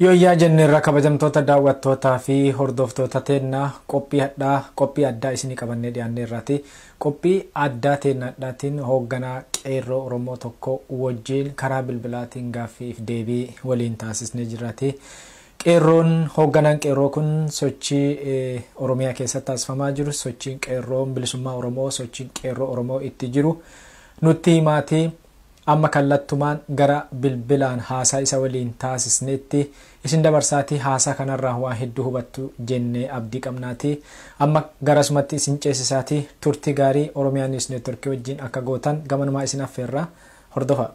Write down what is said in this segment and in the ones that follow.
Yooyyaa jenneerra kabajamtoota daawwattootaa fi hordoftoota teenna qophii hadhaa qophii addaa isinii qabannee dhiyaanneerraati. Qophii addaa teenna hadhaatiin hoogganaa Qeerroo Oromoo tokko wojjiin karaa bilbilaatiin gaaffii if deebii waliin taasisnee jirraati. Qeerroon hoogganaan Qeerroo kun sochii Oromiyaa keessatti taasifamaa jiru sochiin Qeerroo bilisummaa Oromoo sochiin Qeerroo Oromoo itti jiru nutti himaati. Amma kallattumaan gara bilbilaan haasaa isa waliin taasisneetti isin dabarsaatii haasaa kanarraa waa hedduu hubattu jennee abdii qabnaatii amma garasumatti isin ceesisaatii turtii gaarii Oromiyaa News Network wajjin akka gootan gamanumaa isin affeerra. Hordofaa!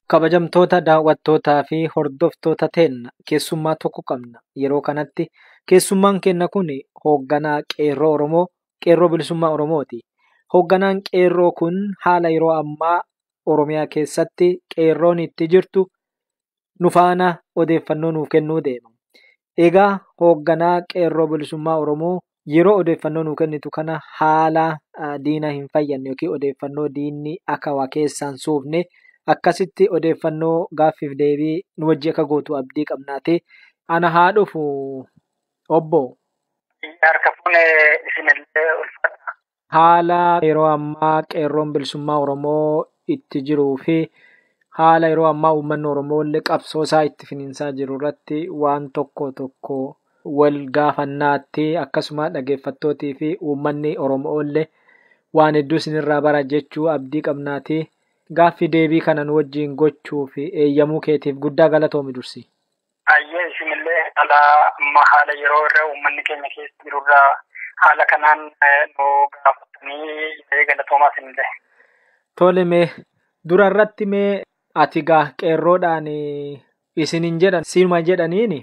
Kabajamtoota daawwattootaa fi hordoftoota teenna keessummaa tokko qabna. Yeroo kanatti keessummaan keenna kun hoogganaa Qeerroo Oromoo, Qeerroo Bilisummaa Oromooti. Hoogganaan Qeerroo kun haala yeroo ammaa Oromiyaa keessatti qeerroon itti jirtu nu faana odeeffannoo nuuf kennuu deema. Egaa hoogganaa qeerroo bilisummaa Oromoo yeroo odeeffannoo nuu kennitu kana haala diina hin fayyadne yookiin odeeffannoo diinni akka waa keessaan suufne akkasitti odeeffannoo gaaffiif deebii nu wajji akka gootu abdii qabnaati. Ana haa dhufu obbo. Harka fuune isinillee ulfaadha. haala yeroo ammaa qeerroon bilisummaa Oromoo itti jiruu fi haala yeroo ammaa uummanni Oromoo illee qabsoo isaa itti finiinsaa jiru irratti waan tokko tokko wal gaafannaatti akkasuma dhageeffattootii fi uummanni Oromoo illee waan hedduu isinirraa bara jechuu abdii qabnaati. Gaaffii deebii kana nu wajjin gochuu fi eeyyamuu keetiif guddaa galatoomi dursii. Hayyee isinillee haala amma haala yeroo irra uummanni keenya keessa jiru irra haala kanaan nu gaafatanii galatoomaa isinillee. Tole mee dura irratti mee ati gaa qeerroodhaan isinin jedhan sima jedhaniini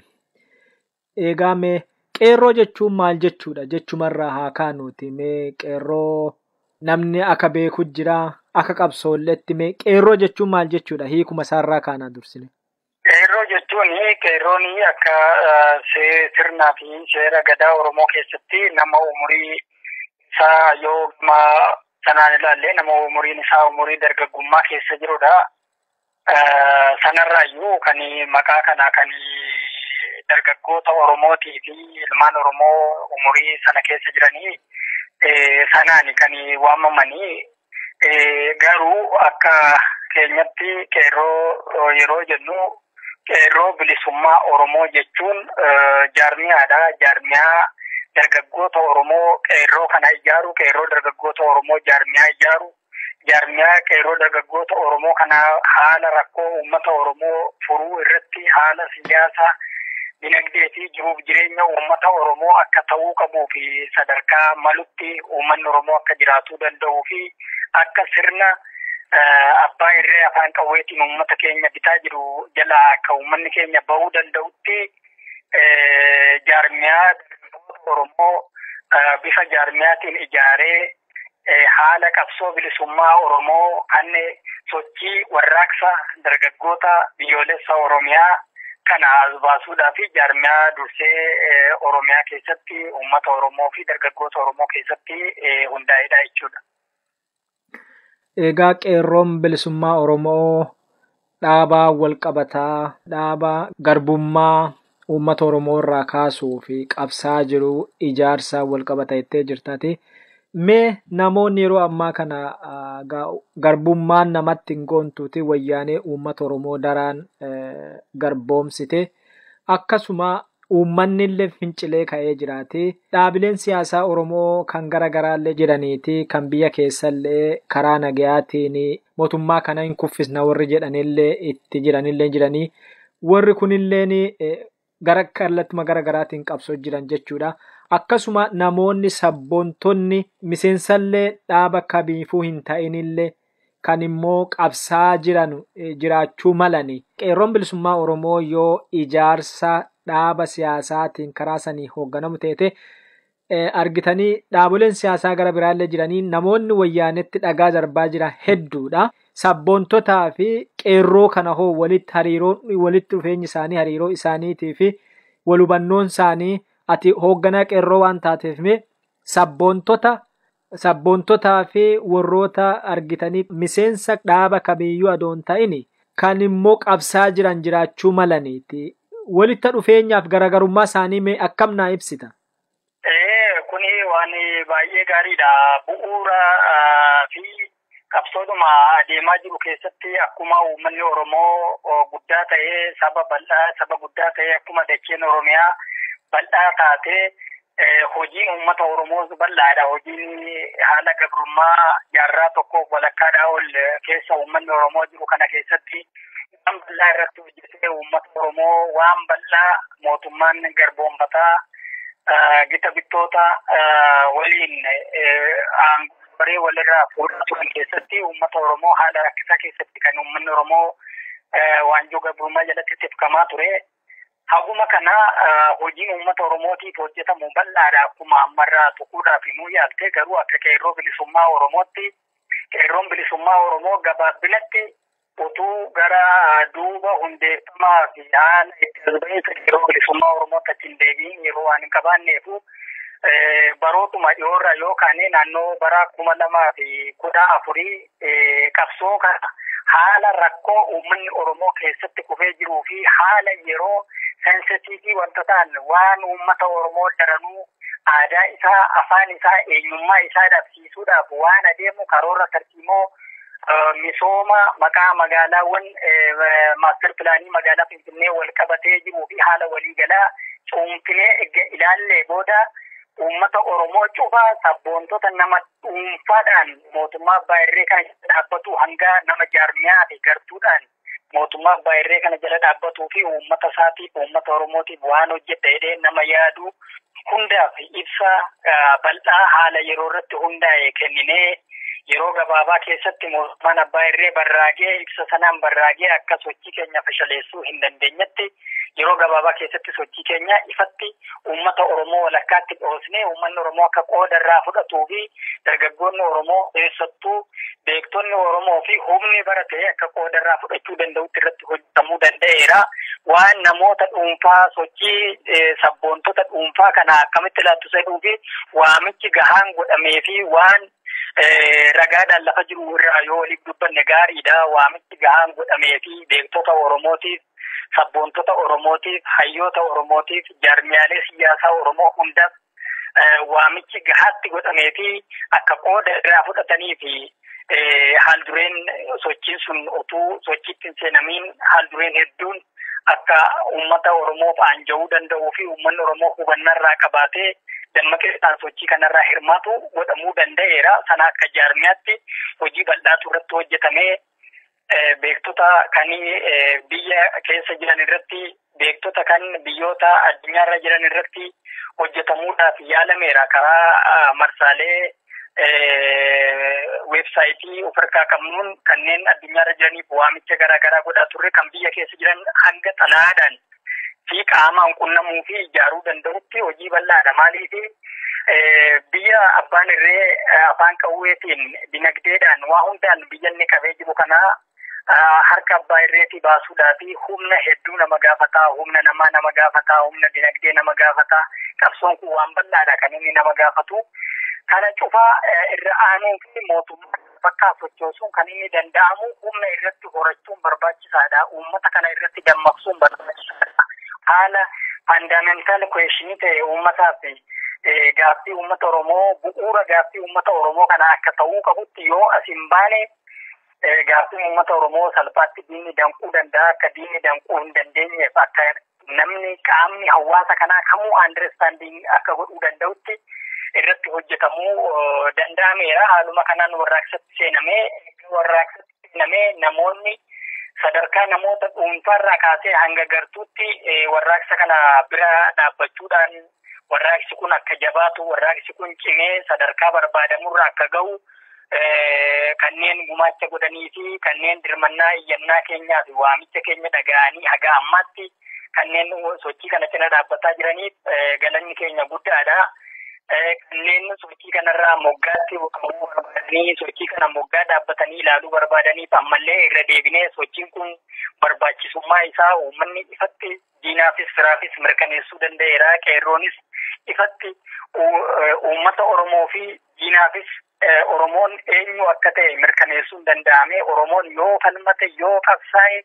eegaa mee qeerroo jechuun maal jechuudha jechumarraa haa kaanuuti mee qeerroo namni akka beeku jira akka qabsoolletti mee qeerroo jechuun maal jechuudha hiikuma isaarraa kaanaa dursine. Qeerroo jechuun qeerroon akka sirnaa fi seera gadaa Oromoo keessatti nama umurii isaa yoo sanaan ilaallee nama umuriin isaa umurii dargaggummaa keessa jirudha. Sanarraayyuu kan maqaa kana kan dargaggoota Oromootii fi ilmaan Oromoo umurii sana keessa jiranii sanaani kan waamamanii Garuu akka keenyatti qeerroo yeroo jennu qeerroo bilisummaa Oromoo jechuun jaarmiyaadha. Jaarmiyaa dargaggoota Oromoo qeerroo kana ijaaru, qeerroo dargaggoota Oromoo jaarmiyaa ijaaru, jaarmiyaa qeerroo dargaggoota Oromoo kana haala rakkoo uummata Oromoo furuu irratti haala siyaasa dinagdee fi jiruuf jireenya uummata Oromoo akka ta'uu qabuu fi sadarkaa malutti uummanni Oromoo akka jiraatu danda'uu fi akka sirna abbaa irree afaan qawweetiin uummata keenya bitaa jiru jalaa akka uummanni keenya bahuu danda'utti jaarmiyaa Oromoo bifa jaarmiyaatiin ijaaree haala qabsoo bilisummaa Oromoo kan sochii warraaqsa dargaggoota biyyoolessa Oromiyaa kana as baasuudhaa fi jaarmiyaa dursee Oromiyaa keessatti uummata Oromoo fi dargaggoota Oromoo keessatti hundaa'edha jechuudha. Egaa qeerroon bilisummaa Oromoo dhaabaa walqabataa dhaabaa garbummaa uummata Oromoo irraa kaasuu fi qabsaa jiru ijaarsa walqabata jettee jirtati. Mee namoonni yeroo ammaa kana garbummaan namatti hin goontuuti wayyaanee uummata Oromoo daraan garboomsite akkasuma uummanni illee fincilee ka'ee jiraati. Dhaabileen siyaasaa Oromoo kan gara garaa illee jiraniiti kan biyya keessa illee karaa nagayaatiin mootummaa kana hin kuffisna warri jedhan illee itti jiran illee jiranii warri kun illeen gara kallattuma gara garaatiin qabsoo jiran jechuudha. Akkasuma namoonni sabboontonni miseensallee dhaaba kamiifuu hin ta'inillee kan immoo qabsaa jiran jiraachuu malani. Qeerroon bilisummaa Oromoo yoo ijaarsa dhaaba siyaasaatiin karaa sanii hoogganamu teete argitanii dhaaboleen siyaasaa gara biraallee jiranii namoonni wayyaanetti dhagaa darbaa jira hedduudha. Sabboontotaa fi qeerroo kana hoo walitti hariiroo walitti dhufeenyi isaanii hariiroo isaaniitii fi wal hubannoon isaanii ati hoogganaa qeerroo waan taateef mee sabboontota sabboontotaa fi warroota argitanii miseensa dhaaba kamiiyyuu adoon ta'ini kan immoo qabsaa jiran jiraachuu malaniiti. Walitti dhufeenyaaf garaagarummaa isaanii mee akkam naa ibsita? Ee, kuni waan baay'ee gaariidha. Bu'uura ah, fi qabsoodhuma adeemaa jiru keessatti akkuma uummanni Oromoo oh, guddaa ta'ee saba bal'aa, saba guddaa ta'ee akkuma dacheen Oromiyaa bal'aa taatee eh, hojiin uummata Oromoos bal'aadha. Hojiin haala gabrummaa jaarraa tokkoof walakkaadhaa ol eh, keessa uummanni Oromoo jiru kana keessatti waan bal'aa irratti hojjetee uummata Oromoo waan bal'aa mootummaan garboomfataa gita bittoota waliin aangooree walirraa fuudhaa turan keessatti uummata Oromoo haala rakkisaa keessatti kan uummanni Oromoo waanjoo gabrummaa jalatti tifkamaa ture. Haguma kana hojiin uummata Oromootiif hojjetamu bal'aadha akkuma ammarraa tuquudhaaf himuu yaalte garuu akka qeerroo bilisummaa Oromootti qeerroon bilisummaa Oromoo gabaabinatti Utuu gara duuba hundeeffamaa fi haala itti as ba'iinsa Qeerroo Bilisummaa Oromootti achi hin deebi'in yeroo waan hin qabaanneefu barootuma dhiyoorraa yoo kaane naannoo bara kuma lamaa fi kudha afurii qabsoo kana haala rakkoo uummanni Oromoo keessatti kufee jiruu fi haala yeroo sensitiivii wanta ta'an waan uummata Oromoo daranuu aadaa isaa, afaan isaa, eenyummaa isaa dhabe. raawwachiisuudhaaf waan adeemu karoora tarsiimoo misooma maqaa magaalaawwan maastar pilaanii magaalaa Finfinnee wal qabatee jiruu fi haala waliigalaa cuunfinee erga ilaallee booda uummata Oromoo cufa sabboontota nama dhuunfaadhaan mootummaa abbaa irree kana dhaabbatu hanga nama jaarmiyaa fi gartuudhaan mootummaa abbaa irree kana jala dhaabbatuu fi uummata isaatiif uummata Oromootiif waan hojjedha jedhee nama yaadu hundaaf ibsa bal'aa haala yeroo irratti hundaa'e kenninee yeroo gabaabaa keessatti mootummaan abbaa irree barraagee ibsa sanaan barraagee akka sochii keenya fashaleessuu hin dandeenyetti yeroo gabaabaa keessatti sochii keenya ifatti uummata Oromoo walakkaatti dhoosnee uummanni Oromoo akka qooda irraa fudhatuu fi dargaggoonni Oromoo keessattuu beektonni Oromoo fi humni bara ta'e akka qooda irraa fudhachuu danda'utti irratti hojjetamuu danda'eera. Waan namoota dhuunfaa sochii sabboontota dhuunfaa kana akkamitti laattu jedhuu fi waamichi gahaan godhamee fi waan ragaadhaan lafa jiru irraa yoo waliif dubbanne gaariidha. Waamichi gahaan godhamee fi beektota Oromootiif sabboontota Oromootiif, hayyoota Oromootiif, jaarmiyaalee siyaasaa Oromoo hundaaf waamichi gahaatti godhamee fi akka qooda irraa fudhatanii fi haal dureen sochiin sun utuu sochiitti hin seenamiin haal dureen hedduun akka uummata Oromoof aanja'uu danda'uu fi uummanni Oromoo hubannaa irraa qabaatee dammaqeessaan sochii kanarraa hirmaatu godhamuu danda'eera. Sana akka jaarmiyaatti hojii bal'aatu irratti hojjetamee beektota kan biyya keessa jiran irratti beektota kan biyyoota addunyaarra jiran irratti hojjetamuudhaaf yaalameera karaa marsaalee weebsaayitii of harkaa qabnuun kanneen addunyaarra jiraniif waamicha garaagaraa godhaa turre kan biyya keessa jiran hanga xalaadhaan fi qaamaan qunnamuu fi ijaaruu danda'utti hojii bal'aadha. Maaliif biyya abbaan irree afaan qawweetiin dinagdeedhaan waa hundaan biyya inni qabee jiru kana harka abbaa irreetii baasuudhaa fi humna hedduu nama gaafataa, humna namaa nama gaafataa, humna dinagdee nama gaafataa. Qabsoon kun waan bal'aadha kan inni nama gaafatu. Kana cufaa irra aanuu fi mootummaa bakkaa sochoosuun kan inni danda'amu humna irratti horachuun barbaachisaadha. Uummata kana irratti dammaqsuun barbaachisaadha. Haala faandaamentaal kuweeshinii ta'e uummataaf gaaffii uummata Oromoo bu'uura gaaffii uummata Oromoo kana akka ta'uu qabutti yoo as hin baane gaaffii uummata Oromoo salphaatti diinni danquu danda'a akka diinni danquu hin dandeenyeef akka namni qaamni hawaasa kanaa kamuu andirestaandiing akka godhuu danda'utti irratti hojjetamuu danda'ameera. Haaluma kanaan warraaqsatti seenamee warraaqsatti seenamee namoonni sadarkaa namoota dhuunfaarraa kaasee hanga gartuutti warraaqsa kana bira dhaabbachuudhaan warraaqsi kun akka jabaatu warraaqsi kun cimee sadarkaa barbaadamurra akka ga'u kanneen gumaacha godhanii fi kanneen dirmannaa iyyannaa keenyaa fi waamicha keenya dhaga'anii haga ammaatti kanneen sochii kana cina dhaabbataa jiraniif galanni keenya guddaadha. Kanneen sochii kanarraa moggaatti buqqa'uu barbaadanii sochii kana moggaa dhaabbatanii ilaaluu barbaadaniif ammallee irra deebinee sochiin kun barbaachisummaa isaa uummanni ifatti diinaafis firaafis mirkaneessuu danda'eera. Qeerroonis ifatti uummata Oromoo fi diinaafis Oromoon eenyu akka ta'e mirkaneessuun danda'ame. Oromoon yoo falmate yoo qabsaa'e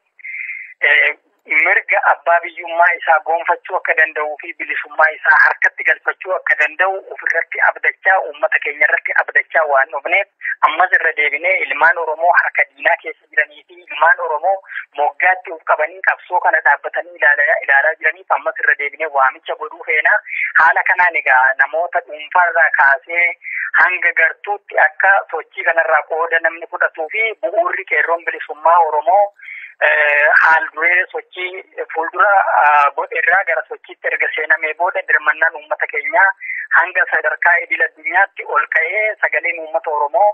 mirga abbaa biyyummaa isaa goonfachuu akka danda'uu fi bilisummaa isaa harkatti galfachuu akka danda'u ofirratti abdachaa uummata keenya irratti abdachaa waan dhufneef ammas irra deebinee ilmaan Oromoo harka diinaa keessa jiranii fi ilmaan Oromoo moggaatti of qabanii qabsoo kana dhaabbatanii ilaalaa jiraniif ammas irra deebinee waamicha godhuu feena. Haala kanaan egaa namoota dhuunfaarraa kaasee hanga gartuutti akka sochii kanarraa qooda namni fudhatuu fi bu'uurri qeerroon bilisummaa Oromoo haal duree sochii fuuldura godherraa gara sochiitti erga seenamee booda dirmannaan uummata keenyaa hanga sadarkaa idil addunyaatti ol ka'ee sagaleen uummata Oromoo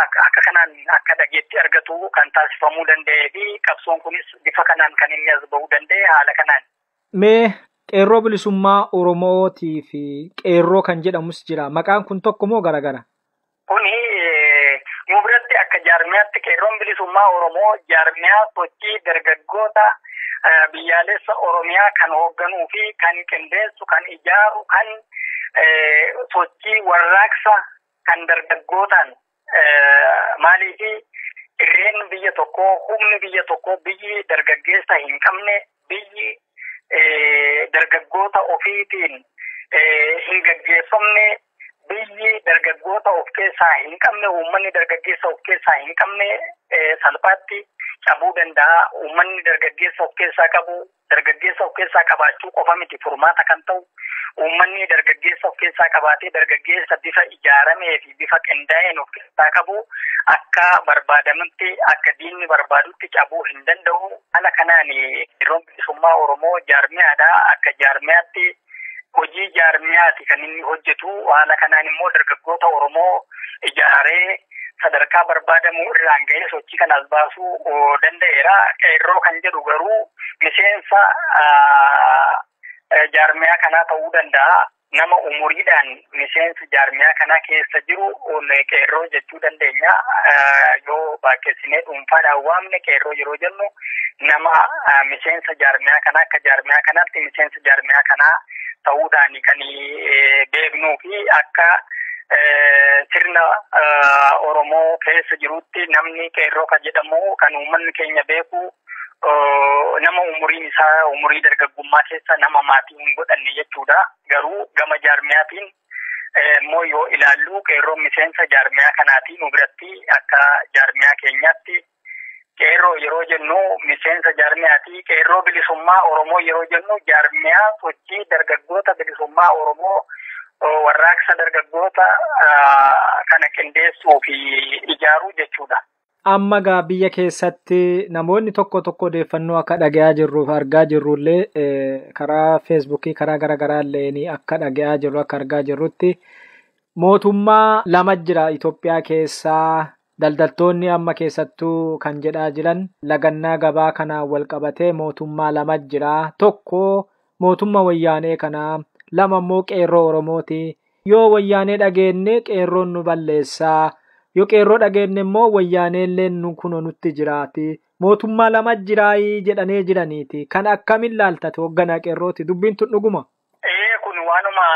akka kanaan akka dhageetti argatu kan taasifamuu danda'ee fi qabsoon kunis bifa kanaan kan inni as bahuu danda'e haala kanaan. Mee qeerroo bilisummaa Oromootii fi qeerroo kan jedhamus jira. Maqaan kun tokko moo garagara? Kuni nu biratti akka jaarmiyaatti qeerroon bilisummaa Oromoo jaarmiyaa sochii dargaggoota biyyaalessa Oromiyaa kan hoogganuu fi kan qindeessu, kan ijaaru, kan sochii warraaqsa kan dargaggootaan maaliif irreen biyya tokkoo humni biyya tokkoo biyyi dargaggeessa hin qabne biyyi dargaggoota ofiitiin hin gaggeeffamne biyyi dargaggoota of keessaa hin qabne uummanni dargaggeessa of keessaa hin qabne salphaatti cabuu danda'a uummanni dargaggeessa of keessaa qabu dargaggeessa of keessaa qabaachuu qofa miti furmaata kan ta'u uummanni dargaggeessa of keessaa qabaatee dargaggeessa bifa ijaaramee fi bifa qindaa'een of keessaa qabu akka barbaadamutti akka diinni barbaadutti cabuu hin danda'u. Haala kanaan yeroon bilisummaa Oromoo jaarmiyaadha akka jaarmiyaatti hojii jaarmiyaati kan inni hojjetu. Haala kanaan immoo dargaggoota Oromoo ijaaree sadarkaa barbaadamu irraan ga'ee sochii kanaas baasuu danda'eera. Qeerroo kan jedhu garuu miseensa jaarmiyaa kanaa ta'uu danda'a. Nama umuriidhaan miseensi jaarmiyaa kanaa keessa jiru qeerroo jechuu dandeenya. Yoo baakkeessinee dhuunfaadhaan waamne qeerroo yeroo jennu nama miseensa jaarmiyaa kanaa akka jaarmiyaa kanaatti miseensa jaarmiyaa kanaa ta'uudhaan kan beeknuu fi akka sirna Oromoo keessa jirutti namni qeerroo kan jedhamu kan uummanni keenya beeku nama umuriin isaa umurii dargaggummaa keessa nama maatii hin godhanne jechuudha. Garuu gama jaarmiyaatiin immoo yoo ilaallu qeerroon miseensa jaarmiyaa kanaati nu biratti akka jaarmiyaa keenyaatti qeerroo yeroo jennu miseensa jaarmiyaati qeerroo bilisummaa oromoo yeroo jennu jaarmiyaa sochii dargaggoota bilisummaa oromoo warraaqsa dargaggoota kana qindeessuu fi ijaaruu jechuudha. Amma gaa biyya keessatti namoonni tokko tokko odeeffannoo akka dhaga'aa jirruuf argaa jirrullee karaa feesbuukii karaa gara garaa illee akka dhaga'aa jirru akka argaa jirrutti mootummaa lama jira Itoophiyaa keessaa daldaltoonni amma keessattuu kan jedhaa jiran lagannaa gabaa kanaan wal qabatee mootummaa lama jira tokko mootummaa wayyaanee kanaa lama immoo qeerroo Oromooti Yoo wayyaanee dhageenne qeerroon nu balleessa. Yoo qeerroo dhageenne immoo wayyaaneelleen nu kunoo nutti jiraati. Mootummaa lama jiraayi jedhanee jiraniiti. Kana akkamiin laalta ati hogganaa qeerrooti? Dubbiin tun dhuguma? Ee kun waanuma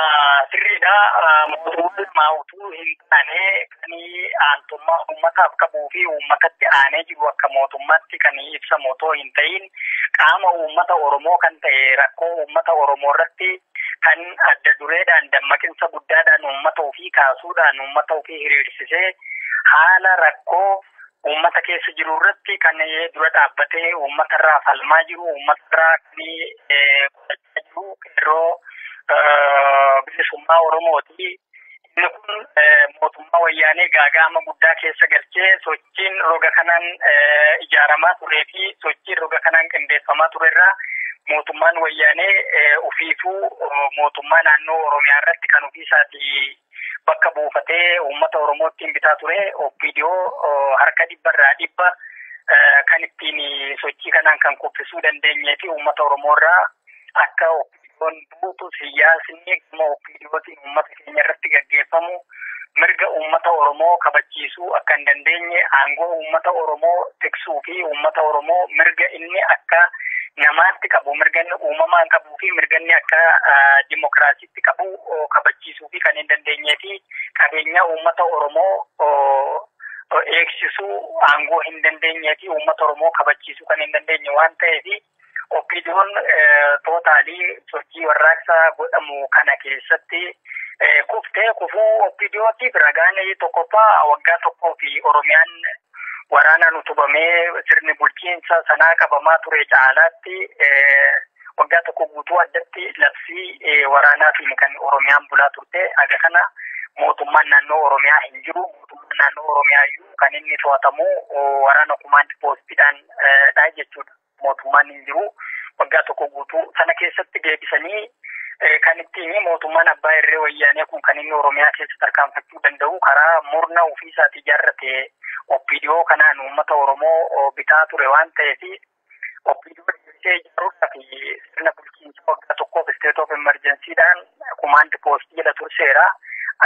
sirriidha. Mootummaa lama utuu hin taane kan aantummaa uummataaf qabuu fi uummatatti aanee jiru akka mootummaatti kan ibsamu otoo hin ta'iin qaama uummata Oromoo kan ta'e rakkoo uummata Oromoo irratti kan adda dureedhaan dammaqinsa guddaadhaan uummata ofii kaasuudhaan uummata ofii hiriirsisee haala rakkoo uummata keessa jiru irratti kan dura dhaabbatee uummata irraa falmaa jiru uummata irraa kan qeerroo bilisummaa Oromooti. Inni kun mootummaa wayyaanee gaaga'ama guddaa keessa galchee sochiin roga kanaan ijaaramaa turee fi sochiin roga kanaan qindeeffamaa ture irraa mootummaan wayyaanee ofiifuu mootummaa naannoo Oromiyaa irratti kan ofiisaati bakka buufatee uummata Oromoo ittiin bitaa ture OPDO harka dhibba irraa dhibba kan ittiin sochii kanaan kan kuffisuu dandeenyee fi uummata Oromoo irraa akka Kun buutu siyaasni dhimma ofii dhiyootiin uummata keenya irratti gaggeeffamu mirga uummata Oromoo kabachiisuu akka hin dandeenye aangoo uummata Oromoo tiksuu fi uummata Oromoo mirga inni akka namaatti qabu mirga inni uumamaan qabuu fi mirga inni akka dimokiraasiitti qabu kabachiisuu fi kan hin dandeenyee fi qabeenya uummata Oromoo eegsisuu aangoo hin dandeenyee fi uummata Oromoo kabachiisuu kan hin dandeenye waan ta'eef Oppiidiyoon tootaalii sochii warraaqsaa godhamu kana keessatti kuftee kufuu oppiidiyootiif ragaan tokkoffaa waggaa tokkoo fi Oromiyaan waraanaan utubamee sirni bulchiinsa sanaa qabamaa ture caalaatti waggaa tokko guutuu addatti labsii waraanaatiin kan Oromiyaan bulaa turte haga kana mootummaan naannoo Oromiyaa hin jiru. Mootummaan naannoo Oromiyaa iyyuu kan inni to'atamu waraana kumaand poostiidhaan dha jechuudha. Mootummaan hin jiru. Waggaa tokko guutuu sana keessatti deebisanii kan ittiin mootummaan abbaa irree wayyaanee kun kan inni Oromiyaa keessa tarkaanfachuu danda'u karaa murna ofii isaatii ijaarrate OPDO kanaan uummata Oromoo bitaa ture waan ta'eef OPDO deebisee ijaaruudhaaf sirna bulchiinsa waggaa tokkoof state of emergency dhaan kumaand poostii jedha turseera.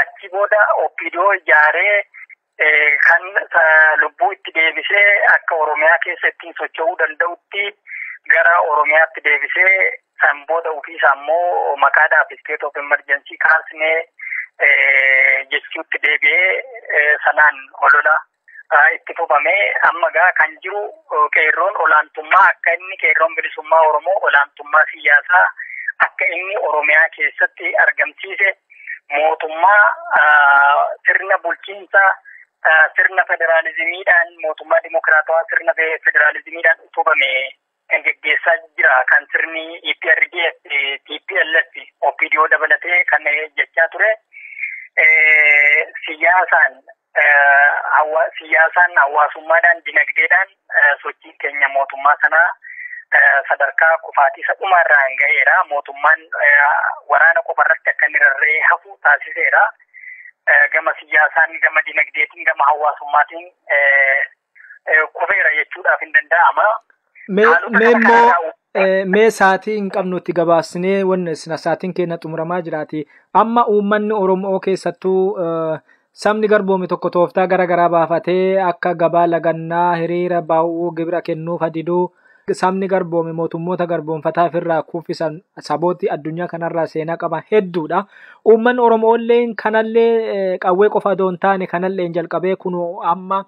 Achi booda OPDO ijaaree Kan lubbuu itti deebisee akka Oromiyaa keessa ittiin socho'uu danda'utti gara Oromiyaatti deebisee san booda ofiisaa immoo maqaadhaaf state of emergency kaasnee jechuutti deebi'ee sanaan olola itti fufamee amma gaa kan jiru qeerroon olaantummaa akka inni qeerroon bilisummaa Oromoo olaantummaa siyaasaa akka inni Oromiyaa keessatti argamsiise mootummaa sirna bulchiinsa sirna federaalizimiidhaan mootummaa dimokiraatawaa sirna federaalizimiidhaan utubame kan geggeessaa jira kan sirni EPRDF, TPLF, OPDO dabalatee kan jechaa ture siyaasaan siyaasaan, hawaasummaadhaan, dinagdeedhaan sochiin keenya mootummaa sana sadarkaa kufaatii isa dhumaa irraan ga'eera. Mootummaan waraana qofa irratti akka inni rarra'ee hafu taasiseera. Gama siyaasaan, gama dinagdeetiin, gama hawaasummaatiin kufeera jechuudhaaf hin danda'ama. Mee immoo mee saatii hin qabnutti gabaasnee wanna sina saatiin keenya xumuramaa jiraati. Amma uummanni Oromoo keessattuu sabni garboome tokko tooftaa gara garaa baafatee akka gabaa lagannaa hiriira baa'uu gibira kennuuf hadiduu sabni garboome mootummoota garboomfataa ofirraa kuffisan sabooti addunyaa kanarraa seenaa qaban hedduudha. Uummanni Oromoolleen kanallee qawwee qofa odoo hin taane kanalleen jalqabee kun amma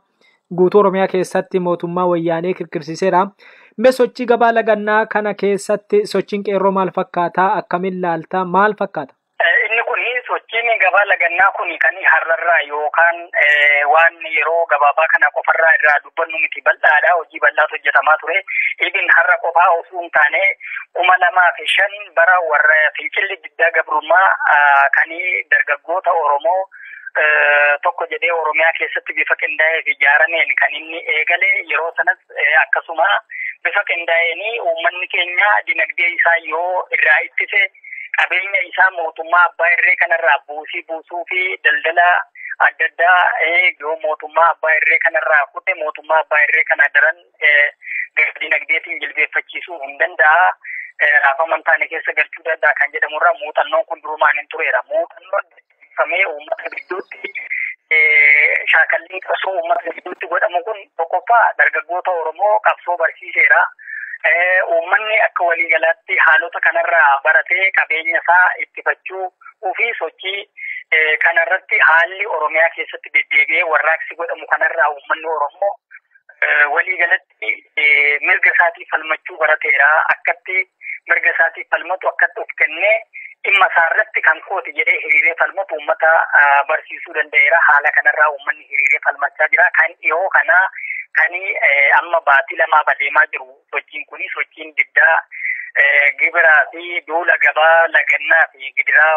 guutuu Oromiyaa keessatti mootummaa wayyaanee kirkirsiiseera. Mee sochii gabaa lagannaa kana keessatti sochiin qeerroo maal fakkaata? Akkamiin laalta? Maal fakkaata? Inni kun sochiin gabaa lagannaa kun kan har'arraa yookaan waan yeroo gabaabaa kana qofarraa irraa dubbannu miti bal'aadha. Hojii bal'aatu hojjetamaa ture. Ibin har'a qofaa osoo hin taane kuma lamaa fi shan bara warra fincilli diddaa gabrummaa kan dargaggoota Oromoo tokko jedhee Oromiyaa keessatti bifa qindaa'ee fi ijaarameen kan inni eegale yeroo sanas akkasuma bifa qindaa'een uummanni keenya dinagdee isaa yoo irraa ittise qabeenya isaa mootummaa abbaa irree kanarraa buusii buusuu fi daldala adda addaa yoo mootummaa abbaa irree kanarraa kute mootummaa abbaa irree kana daran dinagdeetiin jilbeeffachiisuu hin danda'a. Raafama hin taane keessa galchuu danda'a kan jedhamurraa muuxannoon kun durumaan hin tureera. Muuxannoon taasifamee uummata gidduutti shaakallii qabsoo uummata gidduutti godhamu kun tokkoffaa dargaggoota Oromoo qabsoo barsiiseera. Uummanni akka waliigalaatti haalota kanarraa baratee qabeenya isaa ittifachuu ofii sochii kanarratti haalli Oromiyaa keessatti deddeebi'ee warraaqsi godhamu kanarraa uummanni Oromoo waliigalatti mirga isaatii falmachuu barateera akkatti mirga isaatii falmatu akkatti of kennee dhimma isaa irratti kan kooti jedhee hiriiree falmatu uummata barsiisuu danda'eera haala kanarraa uummanni hiriiree falmachaa jira kan dhiyoo kana kan amma baatii lamaa badeemaa jiru sochiin kun sochiin diddaa gibiraa fi duula gabaa lagannaa fi gidiraa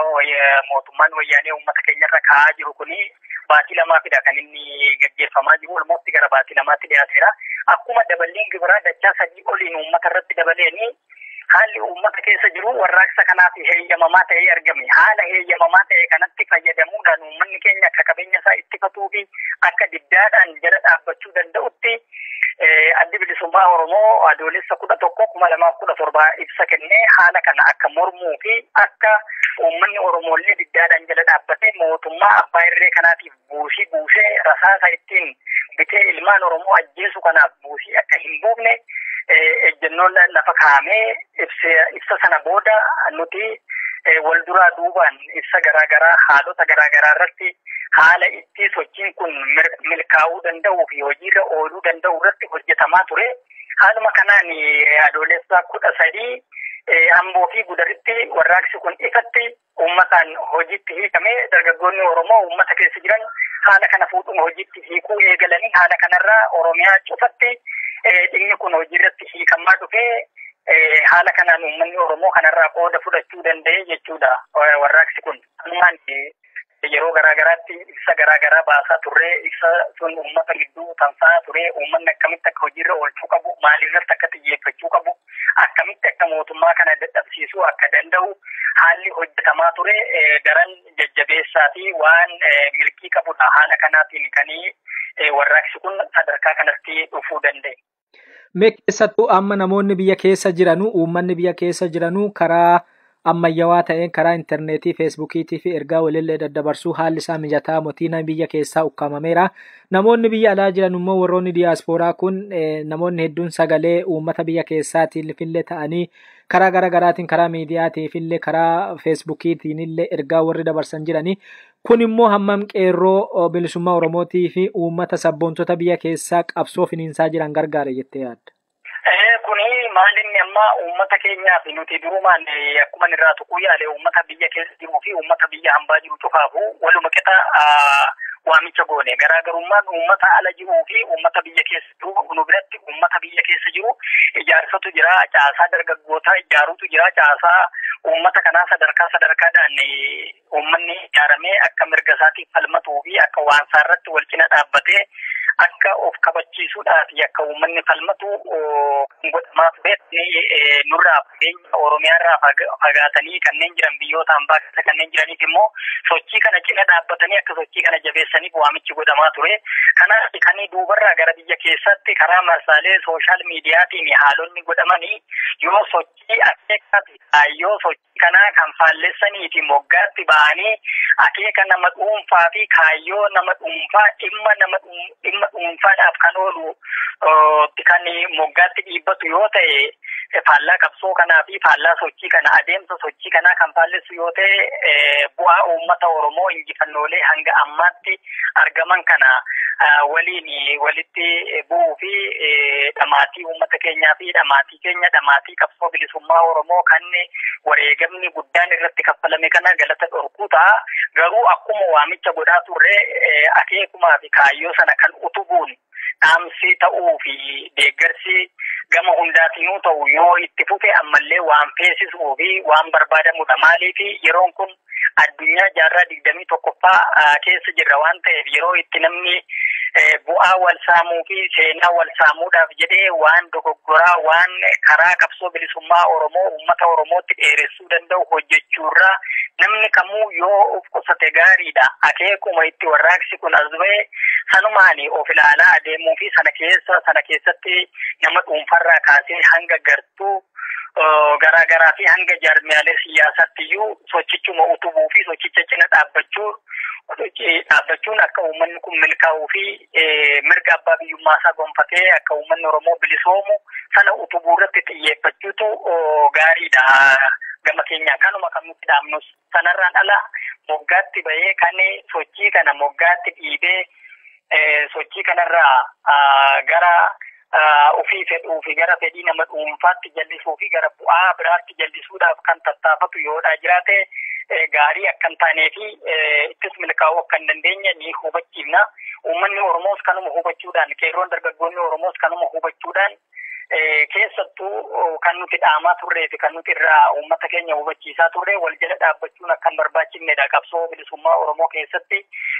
mootummaan wayyaanee uummata keenyarra kaa'aa jiru kun baatii lamaafidha kan inni gaggeeffamaa jiru. Olmootti gara baatii lamaatti dhiyaateera. Akkuma daballiin gibiraa dachaa sadii oliin uummata irratti dabaleeni haalli uummata keessa jiru warraaqsa kanaaf heeyyamamaa ta'ee argame. Haala heeyyamamaa ta'e kanatti fayyadamuudhaan uummanni keenya akka qabeenya isaa ittifatuu fi akka diddaadhaan jala dhaabbachuu danda'utti Addi bilisummaa Oromoo adoolessa kudha tokko kuma lamaaf kudha torba ibsa kennee haala kana akka mormuu fi akka uummanni Oromoollee diddaadhaan jala dhaabbatee mootummaa abbaa irree kanaatiif buusii buusee rasaasa ittiin bitee ilmaan Oromoo ajjeesu kanaaf buusii akka hin buufne ejjennoon lafa kaa'amee ibsa sana booda nuti wal duraa duubaan ibsa garaagaraa haalota garaagaraa irratti haala itti sochiin kun milkaa'uu danda'uu fi hojiirra ooluu danda'u irratti hojjetamaa ture. Haaluma kanaan adoolessa kudha sadii Amboo fi Gudaritti warraaqsi kun ifatti uummataan hojiitti hiikame dargaggoonni Oromoo uummata keessa jiran haala kana fuudhuun hojiitti hiikuu eegalanii haala kanarraa Oromiyaa cufatti dhimmi kun hojiirratti hiikamaa dhufee haala kanaan uummanni Oromoo kanarraa qooda fudhachuu danda'e jechuudha warraaqsi kun. Ammaan yeroo garaa garaatti ibsa garaa garaa baasaa turree ibsa sun uummata gidduu tamsa'aa ture uummanni akkamitti akka hojiirra oolchuu qabu maalirratti akka xiyyeeffachuu qabu akkamitti akka mootummaa kana dadhabsiisuu akka danda'u haalli hojjetamaa ture daran jajjabeessaa fi waan milkii qabudha haala kanaatiin kan warraaqsi kun sadarkaa kanatti dhufuu danda'e. Mee keessattuu amma namoonni biyya keessa jiranu uummanni biyya keessa jiranu karaa ammayyawaa ta'een karaa intarneetii feesbuukiitii fi ergaa walillee daddabarsuu haalli isaa mijataa motii namni biyya keessaa ukkaamameera namoonni biyya alaa jiran immoo warroonni diyaaspooraa kun namoonni hedduun sagalee uummata biyya keessaatiin fillee ta'anii karaa gara garaatiin karaa miidiyaatiif illee karaa feesbuukiitiin illee ergaa warri dabarsan jiranii Kun immoo hammam qeerroo bilisummaa Oromootii fi uummata sabboontota biyya keessaa qabsoo finiinsaa jiran gargaare jettee yaadda? Kuni maal inni amma uummata keenyaa fi nuti durumaan akkuma irraa tuquu yaale uummata biyya keessa jiruu fi uummata biyya hambaa jiru cufaafu waluma qixa waamicha goone garaagarummaan uummata ala jiruu fi uummata biyya keessa jiru nu biratti uummata biyya keessa jiru ijaarsatu jira caasaa dargaggootaa ijaarutu jira caasaa uummata kanaa sadarkaa sadarkaadhaan Uummanni ijaaramee akka mirga isaatiif falmatuu fi akka waan isaa irratti wal cina dhaabbatee akka of kabachiisuudhaa fi akka uummanni falmatu kan godhamaa turetti nurraa fageenya Oromiyaa irraa fagaatanii kanneen jiran biyyoota ambaa keessa kanneen jiraniif immoo sochii kana cina dhaabbatanii akka sochii kana jabeessaniif waamichi godhamaa ture. Kanaaf kan duubarraa gara biyya keessaatti karaa marsaalee sooshaal miidiyaatiin haalonni godhamanii yoo sochii akeekaa fi kaayyoo sochii kanaa kan faallessanii fi moggaatti ba'anii akeeka nama dhuunfaa fi kaayyoo nama dhuunfaa dhimma nama dhimma dhuunfaadhaaf kan oolu kan moggaatti dhiibbatu yoo ta'e faallaa qabsoo kanaa fi faallaa sochii kana adeemsa sochii kanaa kan faallessu yoo ta'e bu'aa uummata Oromoo injifannoolee hanga ammaatti argaman kana waliin walitti bu'uu fi dhamaatii uummata keenyaa fi dhamaatii keenya dhamaatii qabsoo bilisummaa Oromoo kan wareegamni guddaan irratti kaffalame kana galata dhorkuu ta'a. Garuu akkuma waamicha godhaa turre akeekumaa fi kaayyoo sana kan utubuun dhaamsi ta'uu fi deeggarsi gama hundaatinuu ta'u yoo itti fufe ammallee waan feesisuu fi waan barbaadamudha. Maaliif yeroon kun addunyaa jaarraa digdamii tokkoffaa keessa jirra waan ta'eef yeroo itti namni bu'aa wal saamuu fi seenaa wal saamuudhaaf jedhee waan dogoggoraa waan karaa qabsoo bilisummaa Oromoo uummata Oromootti dheeressuu danda'u hojjechuurraa namni kamuu yoo of qusate gaariidha. Akeekuma itti warraaqsi kun as ba'e sanumaani of ilaalaa adeemuu fi sana keessa sana keessatti nama dhuunfarraa kaasee hanga gartuu garaa garaa fi hanga jaarmiyaalee siyaasaatti iyyuu sochichuma utubuu fi sochicha cina dhaabbachuu dhaabbachuun akka uummanni kun milkaa'uu fi mirga abbaa biyyummaa isaa gonfatee akka uummanni Oromoo bilisoomu sana utubuu irratti xiyyeeffachuutu gaariidha gama keenyaan kanuma kan nutti dhaamnus. Sanarraan ala moggaatti bahee kan sochii kana moggaatti dhiibee sochii kanarraa gara ofii fedhuu fi gara fedhii nama dhuunfaatti jallisuu fi gara bu'aa biraatti jallisuudhaaf kan tattaafatu yoodhaa jiraate gaarii akka hin taanee fi ittis milkaa'uu akka hin dandeenye ni hubachiifna. Uummanni Oromoos kanuma hubachuudhaan qeerroon dargaggoonni Oromoos kanuma hubachuudhaan Keessattuu kan nuti dhaamaa turree fi kan nuti irraa uummata keenya hubachiisaa turre wal jala dhaabbachuun akka hin barbaachifnedha. Qabsoo bilisummaa Oromoo keessatti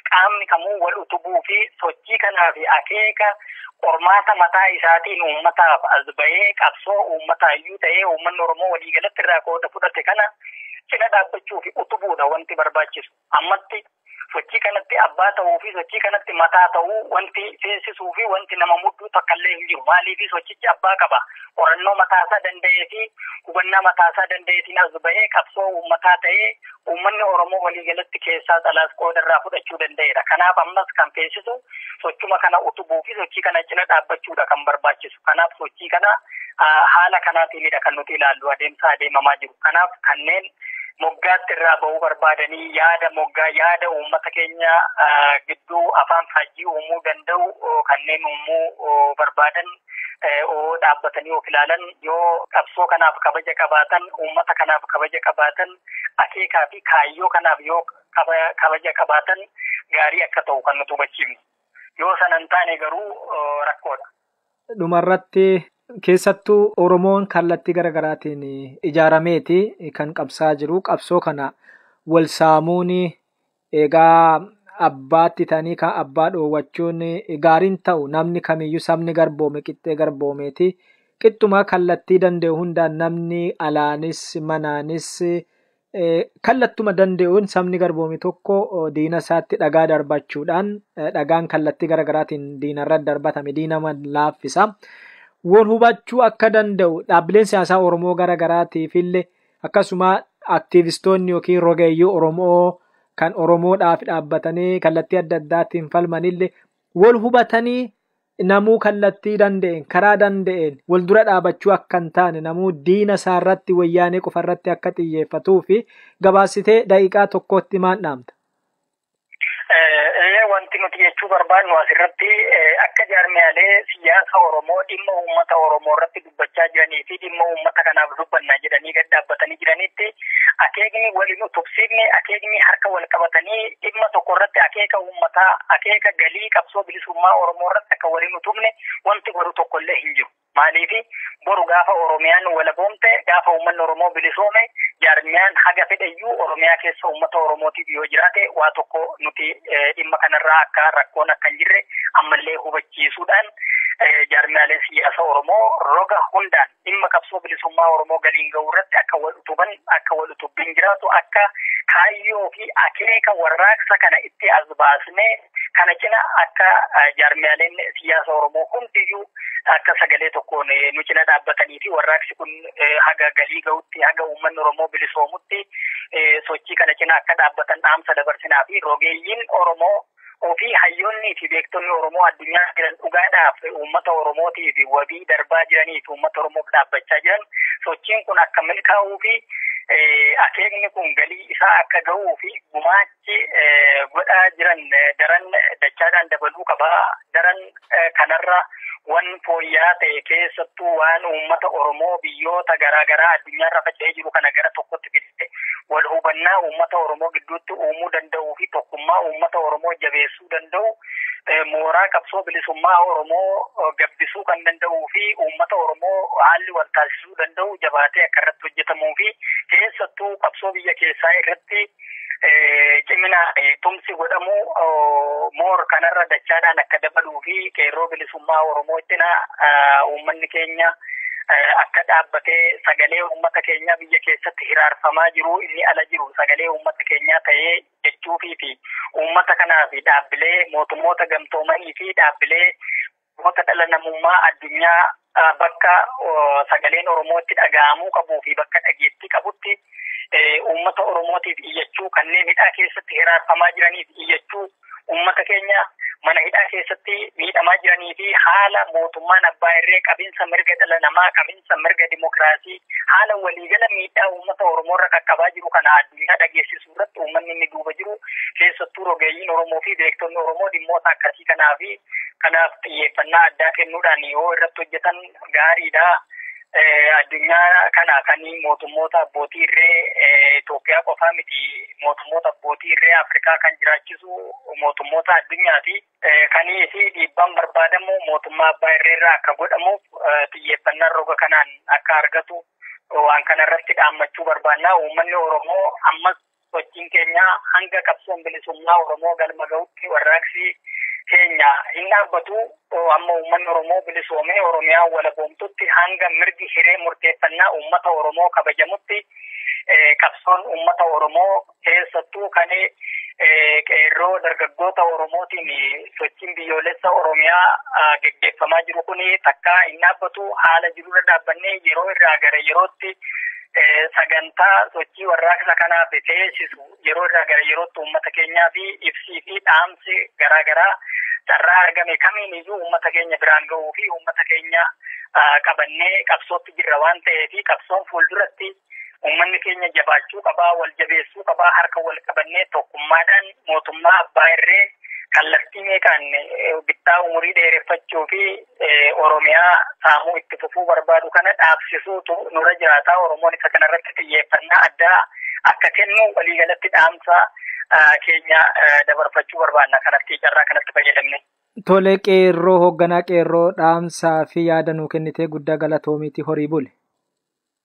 qaamni kamuu wal utubuu fi sochii kanaa fi akeeka qormaata mataa isaatiin uummataaf as bahee qabsoo uummataa iyyuu ta'ee uummanni Oromoo waliigalatti irraa qooda fudhate kana cina dhaabbachuu fi utubuudha wanti barbaachisu. Ammatti sochii kanatti abbaa ta'uu fi sochii kanatti mataa ta'uu wanti seensisuu fi wanti nama mudduu takkallee hin jiru. Maaliif sochichi abbaa qaba. Qorannoo mataasaa danda'ee fi hubannaa mataasaa danda'eetiin as bahee qabsoo uummataa ta'ee uummanni Oromoo waliigalatti keessaas alaas qooda irraa fudhachuu danda'eera. Kanaaf ammas kan feesisu sochuma kana utubuu fi sochii kana cina dhaabbachuudha kan barbaachisu. Kanaaf sochii kana haala kanaatiinidha kan nuti ilaallu adeemsa adeemamaa jiru. Kanaaf kanneen moggaatti irraa ba'uu barbaadanii yaada moggaa yaada uummata keenya gidduu afaan faajjii uumuu danda'u kanneen uumuu barbaadan dhaabbatanii of ilaalan yoo qabsoo kanaaf kabaja qabaatan uummata kanaaf kabaja qabaatan akeekaa fi kaayyoo kanaaf yoo kabaja qabaatan gaarii akka ta'u kan nuti hubachiifnu yoo sanan taane garuu rakkoodha. Dhumarratti keessattuu Oromoon kallattii gara garaatiin ijaarameeti kan qabsaa jiru. Qabsoo kana wal saamuun egaa abbaatti ta'anii kan abbaa dhoowwachuun gaariin ta'u namni kamiyyuu sabni garboome qixxee garboomeeti. Qixxumaa kallattii danda'e hundaan namni alaanis manaanis Kallattuma danda'uun sabni garboome tokko diina isaatti dhagaa darbachuudhaan dhagaan kallattii gara garaatiin diina irratti darbatame diina laaffisa. Wal hubachuu akka danda'u dhaabbileen siyaasaa Oromoo gara garaatiif illee akkasuma aktiivistoonni yookiin rogeeyyii Oromoo kan Oromoodhaaf dhaabbatanii kallattii adda addaatiin falman illee wal hubatanii namuu kallattii danda'een karaa danda'een wal dura dhaabachuu akka hin taane namuu diina isaa irratti wayyaanee qofa irratti akka xiyyeeffatuu fi gabaasitee daqiiqaa tokkootti maal dhaamta? Ee wanti nuti jechuu barbaadnu asirratti akka jaarmiyaalee siyaasa Oromoo dhimma uummata Oromoo irratti dubbachaa jiranii fi dhimma uummata kanaaf dubbanna jedhanii gad dhaabbatanii jiranitti akeekni waliin utubsiifne akeekni harka wal qabatanii dhimma tokko irratti akeeka uummataa akeeka galii qabsoo bilisummaa Oromoo irratti akka waliin utubne wanti godhu tokko illee hin jiru. Maaliif boru gaafa Oromiyaan walaboomte gaafa uummanni Oromoo bilisoome jaarmiyaan haga fedhayyuu Oromiyaa keessa uummata Oromootiif yoo jiraate waa tokko nuti dhimma kanarraa akka rakkoon akka hin jirre ammallee hubachiisuudhaan jaarmiyaaleen siyaasa Oromoo roga hundaan dhimma qabsoo bilisummaa Oromoo galiin ga'uu irratti akka wal utuban akka wal utubbiin jiraatu akka kaayyoo fi akeeka warraaqsa kana itti as baasnee kana cina akka jaarmiyaaleen siyaasa Oromoo hundiyyuu akka sagalee tokkoon nu cina dhaabbatanii fi warraaqsi kun haga galii ga'utti haga uummanni Oromoo bilisoomutti sochii kana cina akka dhaabbatan dhaamsa dabarsinaa fi rogeeyyiin Oromoo ofii hayyoonnii fi beektonni Oromoo addunyaa jiran dhugaadhaaf uummata Oromootiif wabii darbaa jiranii fi uummata Oromoof dhaabbachaa jiran sochiin kun akka milkaa'uu fi akeekni kun galii isaa akka ga'uu fi gumaachi godhaa jiran daran dachaadhaan dabaluu qaba. Daran kanarra wan fooyyaa ta'e keessattuu waan uummata Oromoo biyyoota garaa garaa addunyaarra faca'ee jiru kana gara tokkotti fidee wal hubannaa uummata Oromoo gidduutti uumuu danda'uu fi tokkummaa uummata Oromoo jabeessuu danda'u mooraa qabsoo bilisummaa Oromoo gabbisuu kan danda'uu fi uummata Oromoo haalli wal taasisuu danda'u jabaatee akka irratti hojjetamuu fi keessattuu qabsoo biyya keessaa irratti cimina tumsi godhamu moor kanarra dachaadhaan akka dabaluu fi qeerroo bilisummaa Oromoo cina uummanni keenya akka dhaabbatee sagalee uummata keenyaa biyya keessatti hiraarfamaa jiru inni ala jiru sagalee uummata keenyaa ta'ee jechuufii fi uummata kanaa fi dhaabbilee mootummoota gamtoomanii fi dhaabbilee Goota dhala namummaa addunyaa bakka sagaleen Oromoo itti dhaga'amuu qabuu fi bakka dhageettii qabutti uummata Oromootiif iyyachuu, kanneen hidhaa keessatti hiraarfamaa jiraniif iyyachuu, uummata keenya mana hidhaa keessatti miidhamaa jiranii fi haala mootummaan abbaa irree qabinsa mirga dhala namaa, qabinsa mirga dimokiraasii, haala waliigala miidhaa uummata Oromoo irra qaqqabaa jiru kana addunyaa dhageessisu. irratti uummanni inni duuba jiru keessattuu rogeeyyiin Oromoo fi beektonni Oromoo dhimmoota akkasii kanaa fi kanaaf xiyyeeffannaa addaa kennuudhaan yoo irratti hojjetan gaariidha. Addunyaa kana kan mootummoota abbootii irree Itoophiyaa qofaa miti mootummoota abbootii irree Afrikaa kan jiraachisu mootummoota addunyaati. Kanii fi dhiibbaan barbaadamu mootummaa abbaa irreerraa akka godhamuuf xiyyeeffannaan roga kanaan akka argatu waan kana irratti dhaammachuu barbaanna. Uummanni Oromoo ammas sochiin keenya hanga qabsoon bilisummaa Oromoo galma ga'utti warraaqsi keenya hin dhaabbatu. Amma uummanni Oromoo bilisoomee Oromiyaa walaboomtutti hanga mirgi hiree murteeffannaa uummata Oromoo kabajamutti qabsoon uummata Oromoo keessattuu kan qeerroo dargaggoota Oromootiin sochiin biyyoolessa Oromiyaa geggeeffamaa jiru kun takkaa hin dhaabbatu haala jirurra dhaabbannee yeroo irraa gara yerootti sagantaa sochii warraaqsa kanaaf feesisu yeroo irraa gara yerootti uummata keenyaa fi ibsii fi dhaamsi garaa garaa carraa argame kamiin iyyuu uummata keenya biraan ga'uu fi uummata keenya qabannee qabsootti jirra waan ta'eef qabsoon fuulduratti Uummanni keenya jabaachuu qaba, wal jabeessuu qaba, harka wal qabannee tokkummaadhaan mootummaa abbaa irree kallattii meeqaan bittaa umurii dheereffachuu fi Oromiyaa saamuu itti fufuu barbaadu kana dhaabsisuutu nurra jiraata. Oromoon isa kanarratti xiyyeeffannaa addaa akka kennu waliigalatti dhaamsa keenya dabarfachuu barbaanna kanatti carraa kanatti fayyadamne. Tole qeerroo hoogganaa qeerroo dhaamsaa fi yaada nuu kennitee guddaa galatoomiiti horii buli.